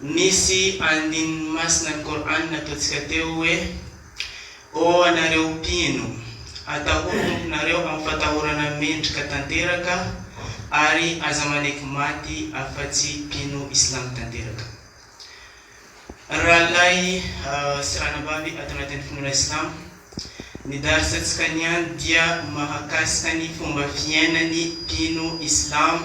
Nisy andininy masina ny Kor'any nataontsika teo hoe, Ô anareo mpino! Atahory Tomponareo amin'ny fatahorana mendrika tanteraka, ary aza maneky maty afa-tsy mpino Islamo tanteraka. Rahalahy sy ranabavy ato anatin'ny finoana Islamo, ny Dars-ntsika niany dia mahakasika ny fomba fiainan'ny mpino Islamo,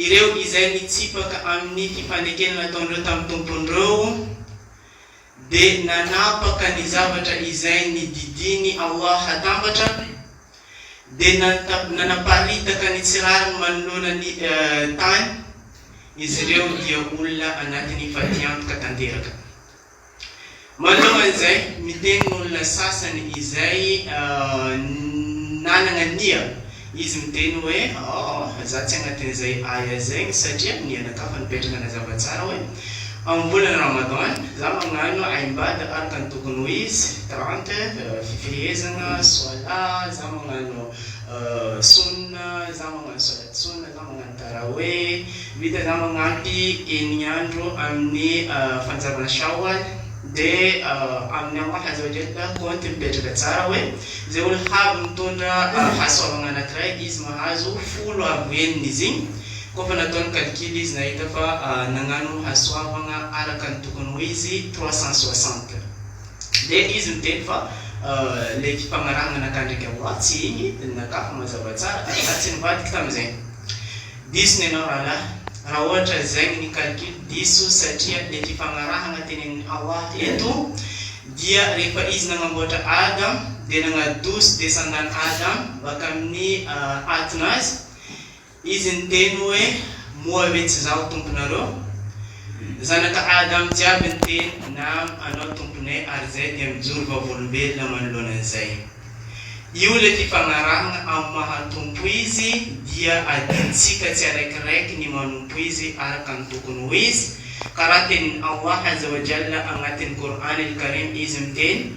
Ireo izay nitsipaka amin'ny fifanekena nataon'ireo tamin'ny tompon'ireo dia nanapaka ny zavatra izay nididian'i Allah hatambatra, dia nanaparitaka ny tsy rariny manoloana ny tany, izy ireo dia olona anatin'ny fatiantoka tanteraka. Manao an'izay, miteny ny olona sasany izay nanana nia. Izy miteny hoe, Aoh, za tsy agnatin'izay aya zegny satria nianakavy nipetraka nazava tsara hoe, amin'ny volana Ramadan, za magnano aibad araka ny tokony ho izy, trente, fifehezagna, soalah, za magnano sunna, za magnano solat sunna, za magnano. Raha hoe miditra ianao manampy eny andro amin'ny fanjavana Shawwal dia amin'ny Allah azza wa jalla kaonty mipetraka tsara hoe izay olo havy mitondra hasoavagna anankiray izy mahazo folo avo enina izy igny koa fa nataony calcul izy nahita fa nagnano hasoavagna araka ny tokony ho izy trois cent soixante Dia izy niteny fa ilay fipagnarahana nataony ndraiky amoha tsy igny dia nakà fa mazava tsara ary za tsy nivadika tamin'izay. Diso ny anao rahalahy raha ohatra zegny ny calcul diso satria ilay fifagnarahana tenenin'i Hawa eto dia rehefa izy nagnamboatra Adam dia nagnadoso descendant Adam baka amin'ny atin'azy, Izy niteny hoe, Moa ve tsy Izaho Tomponareo? Zanaka Adam jiaby niteny, Naam, Anao Tompone, ary izay dia mijoro vavolombelona manoloana an'izay. Io ilay fifanarahana amin'ny maha Tompo Izy, dia adintsika tsiaraikiraiky ny manompo Izy araka ny tokony ho izy, ka raha tenin'i Allah Azza wa Jalla agnatin'ny Qur'an al-Karim Izy miteny,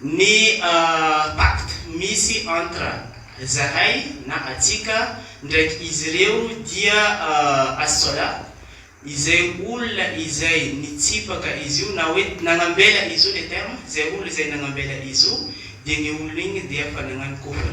Ny pacte misy entre zahay na atsika ndraiky izy ireo dia as-sola, izay olona izay nitsipaka izy io na hoe nagnambela izy io, le terme, izay olona izay nagnambela izy io dia ny olona igny dia fa nagnano kofra.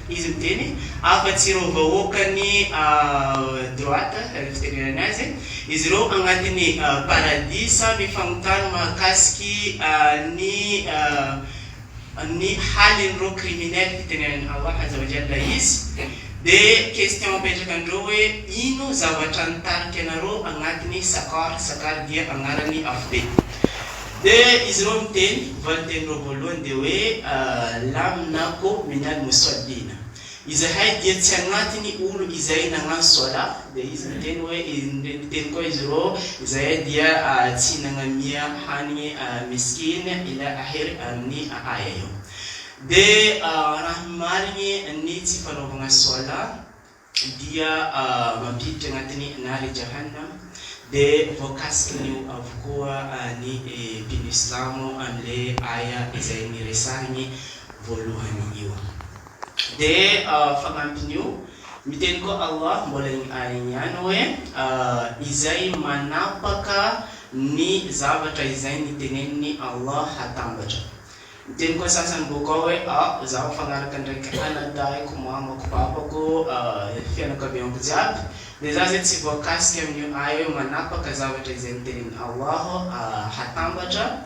Izy miteny, afa-tsy ireo vahoakan'ny droite, raha ny fitenenana azy, izy ireo agnatin'ny paradisa mifagnotany mahakasiky ny ny halin'ireo criminel, fitenenan'i Allah azza wa jalla izy, dia question apetraka an'ireo hoe, ino zavatra nitarika anareo agnatin'ny saqar, saqar dia agnaran'ny afo be. Dia izy ireo miteny, valinteny ireo voalohany dia hoe, Lam na ko minal muswallina. Izahay dia tsy agnatiny olo izay nagnano swala, dia izy miteny hoe, miteny koa izy ireo, izahay dia tsy nagnamia hanigny miskin ila ahery amin'ny aya io. Dia raha ny marigny ny tsy fanaovagna swala dia mampiditra anatin'ny Nari Jahannam, dia voakasikiny avokoa ny mpino silamo amin'ilay Aya izay niresahiny voalohany io. Dia fanampin'io, miteny koa Allah mbola iny Aya iny ihany hoe, Izay manapaka ny zavatra izay niteneniny Allah hatambatra. Ny teniko antsasany bôka ao hoe ah zaho mifagnaraka ndraiky anadahyko, mamako, babako, fianakaviako jiaby, de za zay tsy voakasika amin'io ahy hoe manapaka zavatra izay nitenin ao aho hatambatra,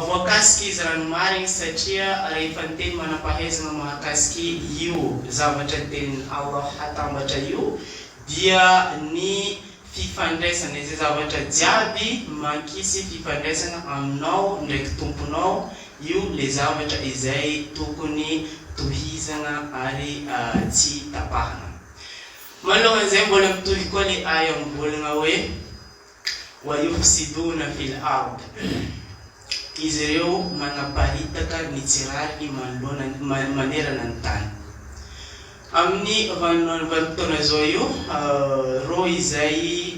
voakasika izy raha ny marigny satria rehefa niteny manampahaizagna mahakasiky io zavatra nitenin ao aho hatambatra io dia ny fifandraisana, izay zavatra jiaby mankisy fifandraisana aminao ndraiky Tomponao, io le zavatra izay tokony tohizana ary tsy tapahana. Malohan'izay mbola mitohy koa le aya mivolagna hoe, Wayufsiduna fil ard. Izy ireo manaparitaka ny tsy rariny manoloana manerana ny tany. Amin'ny vanim-potoana izao io, ireo izay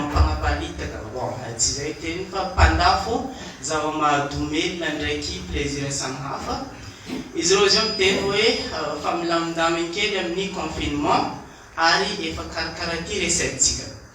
mpanaparitaka, bon tsy izay teny fa mpandafo zava-mahadomelina ndraiky plaisir samihafa, izy ireo izao miteny hoe efa milamindaminy kely amin'ny confinement ary efa karakara ity resahintsika.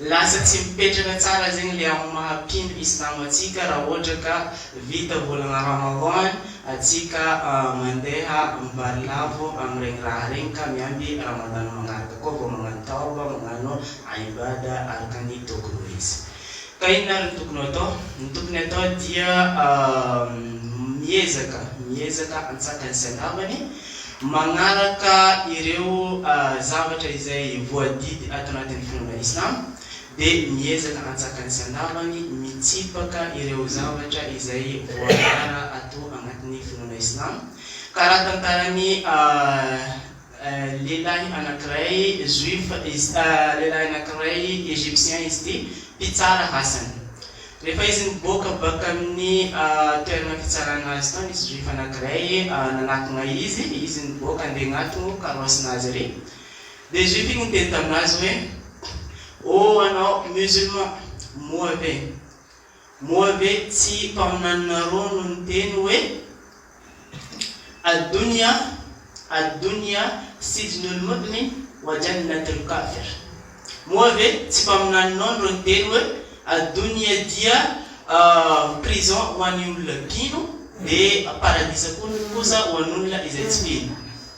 Lasa tsy mipetraka tsara zegny le amin'ny maha mpino islam antsika raha ohatra ka vita volagna ramadan antsika mandeha mivarilavo amin'iregny raha regny ka miamby ramadan magnaraka koa vao magnano tawba magnano ibada araka ny tokony ho izy. Ka inona ary ny tokony ho atao? Ny tokony atao dia miezaka miezaka antsaka ny sy andavany, Magnaraka ireo zavatra izay voadidy ato anatin'ny finoana Islam, dia miezaka hantsakany sy handavany, mitsipaka ireo zavatra izay voaara ato anatin'ny finoana Islam. Ka raha tantaran'ny lehilahy anankiray Juif izy, lehilahy anankiray Egyptien izy ity, mpitsara hasany. Rehefa izy niboaka baka amin'ny toerana fitsarana azy tao nisy juif anankiray nanakona izy, izy niboaka andeha agnatogno karoasina azy ary, dia juif igny niteny taminazy hoe, oh anao musulman, moa ve, moa ve tsy mpaminaninareo no niteny hoe, Ad-Dunya, Ad-Dunya, Sijnul Mu'min wa Jannatul Kafir, Moa ve tsy mpaminaninao ny rony teny hoe, Ad-Dunya dia prison ho an'ny olona mpino, dia paradisa kosa ho an'olona izay tsy mpino?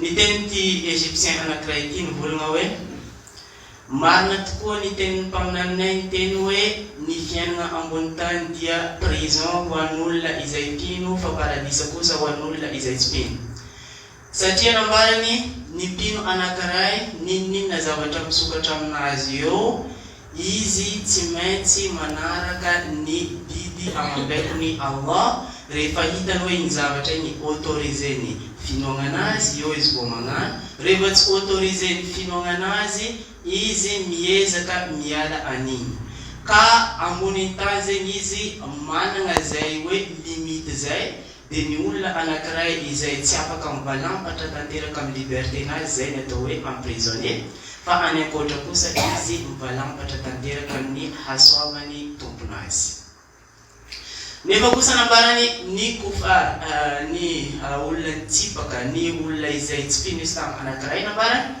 Niteny ity Egyptien anankiray ity nivolagna hoe, Marina tokoa ny tenin'ny mpaminaninay niteny hoe ny fiainagna ambony tany dia prison ho an'olona izay mpino fa paradisa kosa ho an'olona izay tsy mpino. Satria nambarany, ny mpino anankiray, n'inon'inona zavatra misokatra aminazy eo, Izy tsy maintsy manaraka ny didy amam-baikon'i Allah rehefa hitany hoe iny zavatra iny autoriser-ny finoagnana azy, eo izy vao magnano, rehefa tsy autoriser-ny finoagnana azy, izy miezaka miala an'igny. Ka ambonin-tany zegny izy managna zay hoe limite zay, Dia ny olona anankiray izay tsy afaka mivalampatra tanteraka amin'ny liberté-nazy izay ny atao hoe emprisonné, fa any ankoatra kosa izy mivalampatra tanteraka amin'ny hasoavan'ny tompon'azy. Nefa kosa nambarany ny kufar, ny olona nitsipaka, ny olona izay tsy mpino islam anankiray nambarany,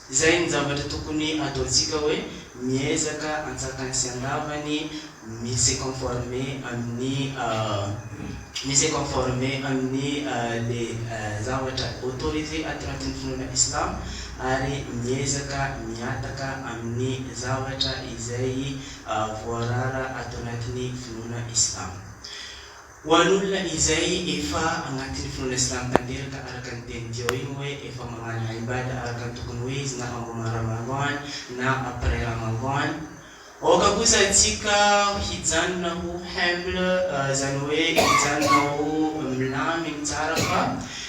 Izay ny zavatra tokony ataontsika hoe miezaka antsakany sy andavany mi se conformer amin'ny mi se conformer amin'ny le zavatra autoriser ato anatin'ny finoana islam ary miezaka mihataka amin'ny zavatra izay voarara ato anatin'ny finoana islam. Ho an'olona izay efa agnatin'ny finoana silamo tanteraka, araka ny teny teo igny hoe efa magnano Aibada araka ny tokony ho izy na amboma Ramadhan na après Ramadhan, aoka kosa antsika hijanona ho humble, zany hoe hijanona ho milamigny tsara fa.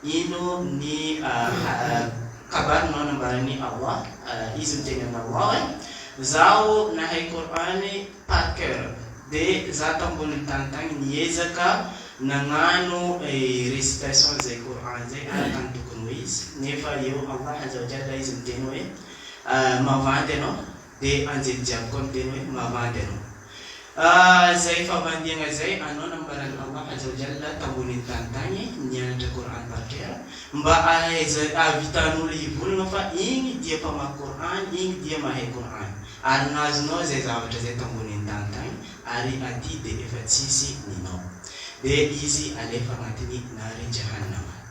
Ino ny kabary no nambaran'i Allah? Izy miteny amin'Allah hoe, Zaho nahay Qur'an par cœur, dia za tambonin'ny tany tagny niezaka nagnano récitation izay Qur'an izay araka ny tokony ho izy, nefa eo Allah azza wa jalla izy miteny hoe, Mavandy ianao Dia anjely jiaby koa miteny hoe mavandy ianao. Ahh izay favandiagna izay anao nambaran'i Allah azza wa jalla tambonin'ny tany tagny nianatra Qur'an par cœur mba ahaizan ahavitan'olo hivory anao fa igny dia mpamaky Qur'an igny dia mahay Qur'an ary nazonao izay zavatra izay tambonin'ny tany tagny ary aty dia efa tsisy ninao dia izy alefa agnatin'ny nari jahannama.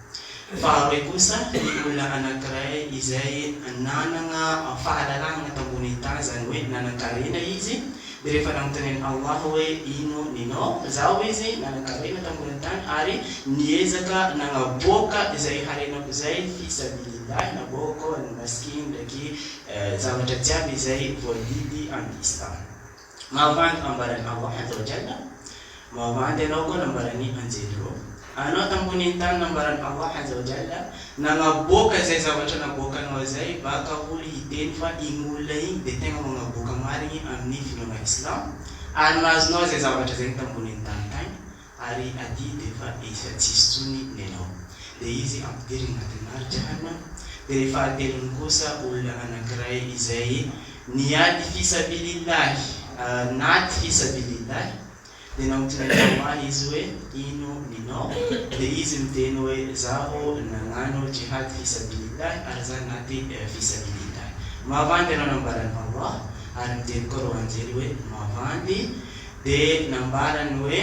Faharoe kosa, ny olona anankiray izay nanana fahalalahana tambonin'ny tany, izany hoe nanan-karena izy, dia rehefa nanontanian'i Allah hoe, Ino ninao? Zaho izy nanan-karena tambonin'ny tany ary niezaka nagnaboaka izay harenako izay fi sabilillah, naboako ny masikiny ndraiky zavatra jiaby izay voadidy amin'ny Islam. Mavandy ambaran'i Hawa Androgen Mavandy anao koa nambaran'ny anjely roa Anao tambonin'ny tany nambaran'i Hawa Androgen Nagnaboaka izay zavatra naboakanao izay Baka olo hiteny fa igny olona igny dia tegna magnaboaka marigny amin'ny finoagna Islam Ary nahazo nao izay zavatra zegny tambonin'ny tany tagny Ary aty dia efa efa tsisy tsony ny anao. Dia izy ampidirina anaty marika hana. Dia ny fahatelony kosa olona anankiray izay niady fisabilillahy nady fisabilillahy dia naotina ny namany izy hoe ino ny nao dia izy miteny hoe zaho nanano jihad fisabilillahy ary za nady fisabilillahy. Mavandy ianao nambarany Allah ary miteny koa reo anjely hoe mavandy Dia nambarany hoe,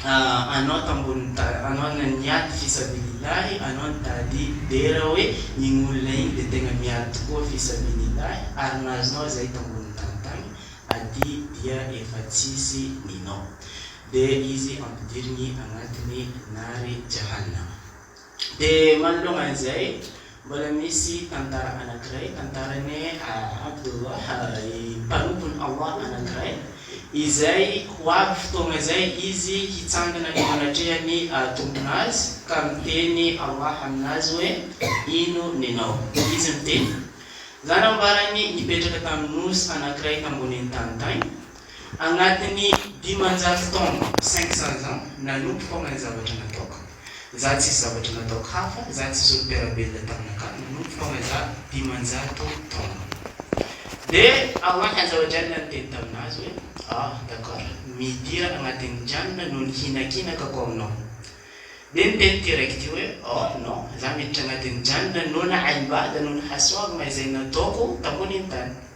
Anao tambonin'ny ta, anao na niady fisabilillahi, anao ny tady dera hoe iny olona iny dia tena miady tokoa fisabilillahi ary na azonao izay tambonin'ny tany tany, aty dia efa tsisy ninao. Dia izy ampidiriny agnatiny nari jahannama. Dia manoloana an'izay, mbola misy tantara anankiray, tantaran'i Abdullah, i mpanompony Allah anankiray, izay ho avy fotoana izay izy hitsangana eo anatrehan'ny Tompon'azy ka miteny Allah aminazy hoe, Ino nenao? Dia izy miteny, Zanambarany nipetraka tamin'ny nosy anankiray tambonin'ny tany tany, Agnatin'ny dimanjato taona, cinq cents ans, nanomboka aho mahay zavatra nataoko. Za tsisy zavatra nataoko hafa, za tsisy olo-mpiara-belona taminakahy, nanomboka aho mahay za dimanjato taona. Dia Aman Hanjavadraina niteny tamin'azy hoe, Ah, d'accord, midira agnatin'ny kianina noho ny hinakinakako aminao. Dia niteny ity raiky ity hoe, Oh, non, za miditra agnatin'ny kianina noho ny haimbata, noho ny hasoavagna izay nataoko tambonin'ny tany.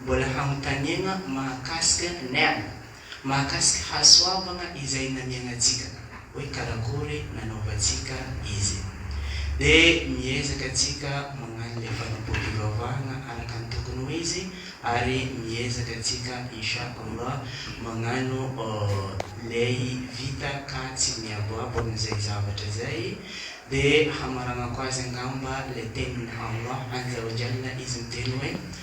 Mbola hanontaniana mahakasika Nern, mahakasika hasoavana izay namianantsika, hoe karakory nanaovantsika izy. Dia miezaka antsika magnano le fanapom-pivavahana araka ny tokony ho izy ary miezaka antsika Insha Allah magnano lay vita ka tsy miaboabo amin'izay zavatra zay. Dia hamaragnako azy angamba le tenin'i Allah Azza wa Jalla izy miteny hoe.